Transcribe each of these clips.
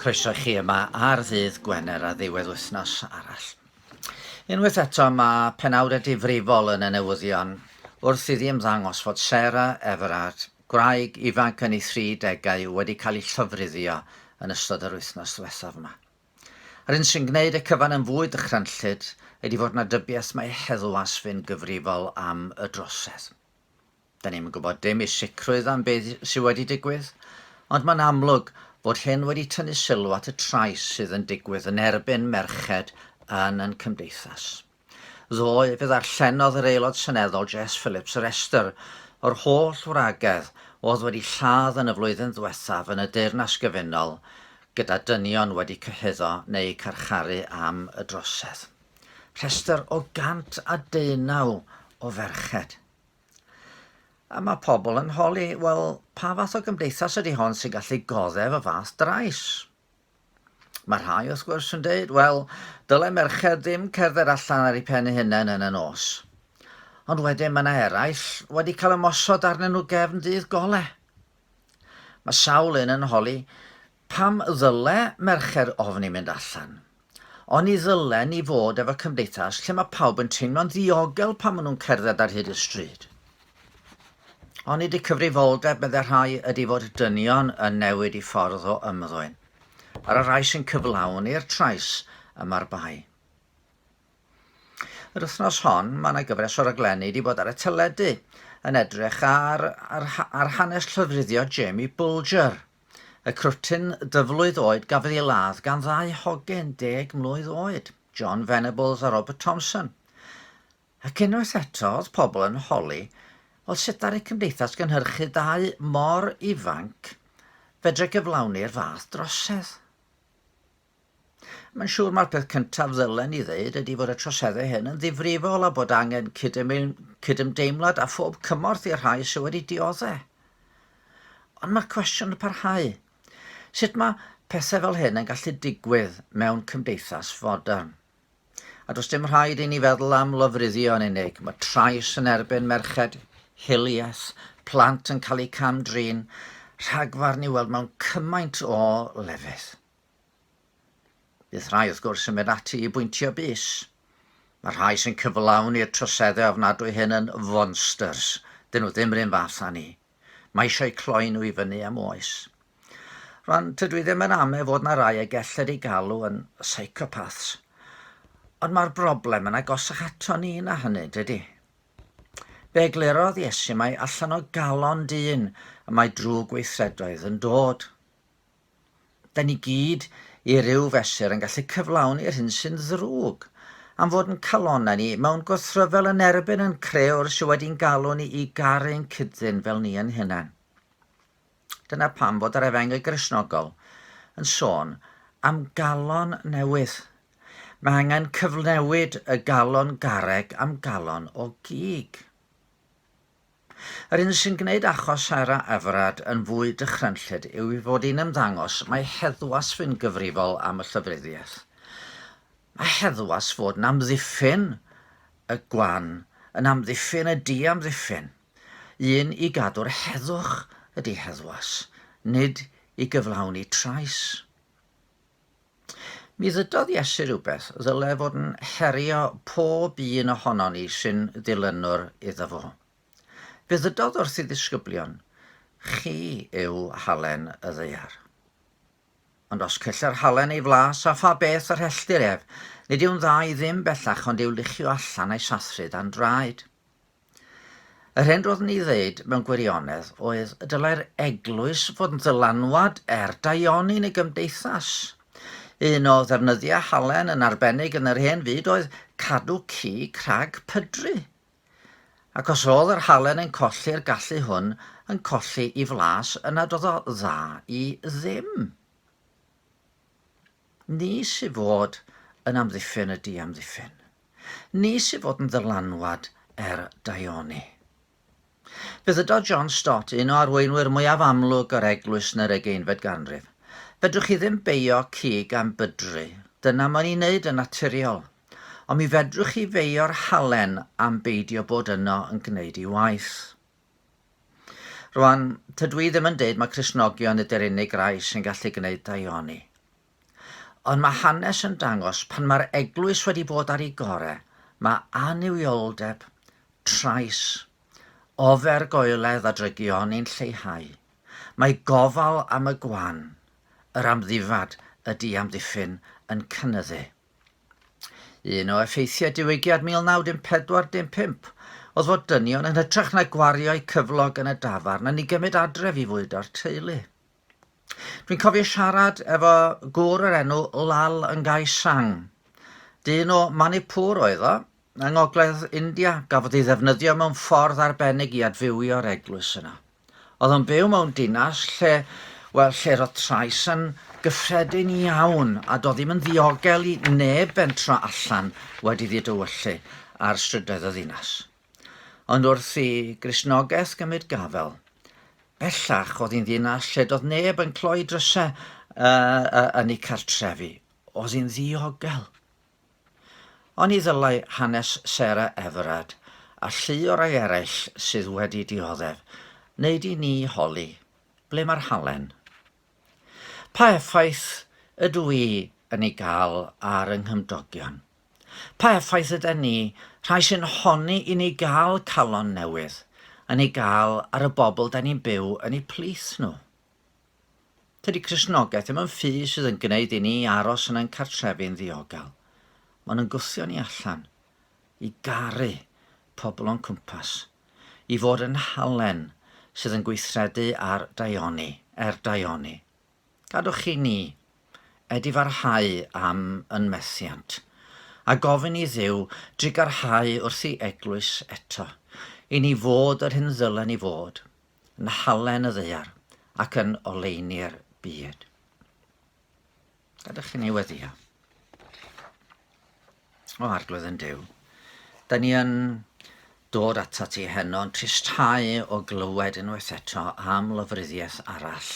Croeso i chi yma ar ddydd Gwener a ddiwedd wythnos arall. Unwaith eto mae penawdau difrifol yn y newyddion wrth iddi ymddangos fod Sarah Everard, gwraig ifanc yn ei 30au wedi cael ei llofruddio yn ystod yr wythnos diwethaf yma. Yr hyn sy'n gwneud y cyfan yn fwy dychrynllyd ydi fod 'na dybiaeth mai heddwas fu'n gyfrifol am y drosedd. 'Da ni'm yn gwybod dim i sicrwydd am beth sy' wedi digwydd, ond mae'n amlwg fod hyn wedi tynnu sylw at y trais sydd yn digwydd yn erbyn merched yn yn cymdeithas. Ddoe fe ddarllenodd yr Aelod Seneddol Jess Phillips y rhestr o'r holl wragedd oedd wedi lladd yn y flwyddyn ddiwethaf yn y Deyrnas Gyfunol gyda dynion wedi cyhuddo neu carcharu am y drosedd. Rhestr o 119 o ferched. A mae pobl yn holi, wel, pa fath o gymdeithas ydy hon sy'n gallu goddef y fath drais? Mae rhai, wrth gwrs, yn dweud, wel, dylai merched ddim cerdded allan ar eu pen eu hunain yn y nos. Ond wedyn mae yna eraill wedi cael ymosod arnyn nhw gefn dydd gole. Mae sawl un yn holi pam ddyle merched ofni mynd allan. Ond ni ddylen ni fod efo cymdeithas lle mae pawb yn teimlo'n ddiogel pan maen nhw'n cerdded ar hyd y stryd. Onid y cyfrifoldeb, meddai rhai, ydy fod y dynion yn newid i ffordd o ymddwyn, ar y rhai sy'n cyflawni'r trais y mae'r bai? Yr wythnos hon, mae yna gyfres o raglenni wedi bod ar y teledu yn edrych ar, ar, ar hanes llofruddio Jamie Bulger, y crwtyn dyflwydd oed gafodd ei ladd gan ddau hogyn deg mlwydd oed, John Venables a Robert Thompson. Ac unwaith eto, oedd pobl yn holi, oedd sut ddaru cymdeithas gynhyrchu dau mor ifanc fedru gyflawni'r fath drosedd? Mae'n siŵr mai'r peth cyntaf ddylen ni ddeud ydy fod y troseddau hyn yn ddifrifol a bod angen cydymdeimlad a phob cymorth i'r rhai sydd wedi dioddau. Ond mae'r cwestiwn yn parhau. Sut mae pethau fel hyn yn gallu digwydd mewn cymdeithas fodern? A does dim rhaid i ni feddwl am lofruddio yn unig. Mae trais yn erbyn merched, hiliaeth, plant yn cael eu cam-drin, rhagfarn i'w weld mewn cymaint o lefydd. Bydd rhai wrth gwrs yn mynd ati i bwyntio bus. Mae rhai sy'n cyflawni'r troseddau ofnadwy hyn yn fonsters. Dyn nhw ddim rhywun fath â ni. Mae eisiau cloi nhw i fyny am oes. Rwan, tydw i ddim yn ame fod na rai y gellir ei galw yn psychopaths, ond mae'r broblem yn agosach ato ni na hynny, dydy? Fe eglurodd Iesu mai allan o galon dyn y mae drwg weithredoedd yn dod. Da ni gyd, i ryw fesur, yn gallu cyflawni'r hyn sy'n ddrwg, am fod yn calonnau ni, mewn gwrthryfel yn erbyn yn crëwr sydd wedi'n galw ni i garu ein cyd-ddyn fel ni yn hunan. Dyna pam fod yr efengyl Gristnogol yn sôn am galon newydd. Mae angen cyfnewid y galon garreg am galon o gig. Yr un sy'n gwneud achos Sara Everard yn fwy dychrynllyd yw ei fod hi'n ymddangos mai heddwas fu'n gyfrifol am y llofruddiaeth. Mae heddwas fod yn amddiffyn y gwan, yn amddiffyn y diamddiffyn. Un i gadw'r heddwch ydi heddwas, nid i gyflawni trais. Mi ddudodd Iesu rhywbeth ddyle fod yn herio pob un ohonon ni sy'n ddilynwr iddo fo. Fe ddudodd wrth ei ddisgyblion, Chi yw halen y ddaear. Ond os celler halen ei flas, a pha beth yr helltir ef, nid yw'n dda i ddim bellach ond i'w luchio allan a'i sathru dan draed. Yr hyn roeddwn i ddeud mewn gwirionedd oedd y dylai'r eglwys fod yn ddylanwad er daioni neu gymdeithas. Un o ddefnyddiau halen yn arbennig yn yr hen fyd oedd cadw cig rhag pydru. Ac os oedd yr halen yn colli'r gallu hwn yn colli i flas yna doedd o dda i ddim. Ni sydd fod yn amddiffyn y diamddiffyn. Nis i fod yn ddylanwad ar daioni. Fe ddydodd John Stott, un o arweinwyr mwyaf amlwg yr Eglwys yn yr ugeinfed ganrif, Fedrwch chi ddim beio cig am bydru, dyna mae'n ei wneud yn naturiol, ond mi fedrwch chi feio'r halen am beidio bod yno yn gwneud ei waith. Rwan, tydw i ddim yn deud mae Cristnogion ydy'r unig rai sy'n gallu gwneud daioni. Ond mae hanes yn dangos pan mae'r eglwys wedi bod ar ei gore, mae annuwioldeb, trais, ofergoeledd a drygioni'n lleihau. Mae gofal am y gwan, yr amddifad, y diamddiffyn yn cynyddu. Un o effeithiau Diwygiad 1914 dim pump oedd fod dynion yn hytrach na gwario'u cyflog yn y dafarn yn ei gymryd adref i fwydo'r teulu. Dwi'n cofio siarad efo gŵr o'r enw Lal Ngai Sang. Dyn o Manipur oedd o, yng ngogledd India, gafodd ei ddefnyddio mewn ffordd arbennig i adfywio'r eglwys yna. Oedd o'n byw mewn dinas lle, wel, lle roedd trais yn gyffredin iawn, a doedd ddim yn ddiogel i neb bentro allan wedi ddiadywyllu ar strydoedd y ddinas. Ond wrth i Gristnogaeth gymryd gafel, bellach oedd hi'n ddinas lle doedd neb yn cloi drysau yn ei cartrefi. Oedd hi'n ddiogel. Ond ni ddylai hanes Sarah Everard a llu o rai eraill sydd wedi dioddef wneud i ni holi ble mae'r halen. Pa effaith ydw i yn ei gael ar yng nghymdogion? Pa effaith yda ni, rhai sy'n honni i ni gael calon newydd, yn ei gael ar y bobl da ni'n byw yn eu plith nhw? Tydi Cristnogaeth ddim yn ffi sydd yn gwneud i ni aros yn ein cartrefi'n ddiogel. Mae'n yn gwthio ni allan, i garu pobl o'n cwmpas, i fod yn halen sydd yn gweithredu ar daioni, er daioni. Gadwch chi ni, Ed i farhau am yn methiant, a gofyn i Dduw drugarhau wrth i Eglwys eto, i ni fod yr hyn ddylen i fod, yn halen y ddaear, ac yn oleuni'r byd. Gadwch chi ni weddio. O arglwydd yn Duw, da ni yn dod atat ti heno yn tristhau o glywed unwaith eto am lyfryddiaeth arall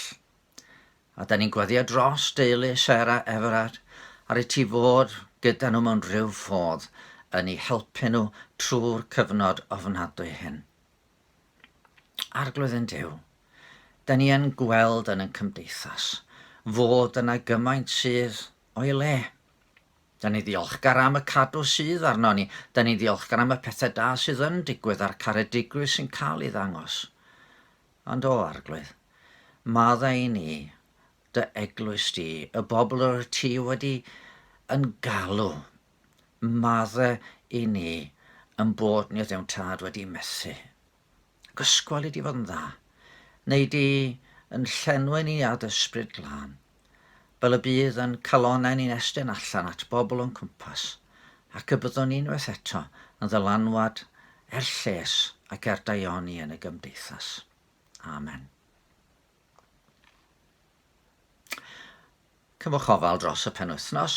A da ni'n gwaddio dros deulu Sarah Everard a rhaid ti fod gyda nhw mewn rhyw ffordd yn eu helpu nhw trwy'r cyfnod ofnadwy hyn. Arglwydd yn Dyw, da ni yn gweld yn yn cymdeithas fod yna gymaint sydd o'i le. Da ni ddiolchgar am y cadw sydd arno ni, da ni ddiolchgar am y pethau da sydd yn digwydd a'r caredigrwydd sy'n cael ei ddangos. Ond o Arglwydd, madda i ni, dy eglwys di, y bobl yr wyt ti wedi yn galw, madda i ni yn bod ni ddim tad wedi methu. Ac ysgwel i di fod yn dda, neu di yn llenwi ni â dy ysbryd glân. fel y bydd yn calonnau ni'n estyn allan at bobl o'n cwmpas, ac y byddwn ni unwaith eto yn ddylanwad er lles ac er daioni yn y gymdeithas. Amen. Cymwch ofal dros y penwythnos,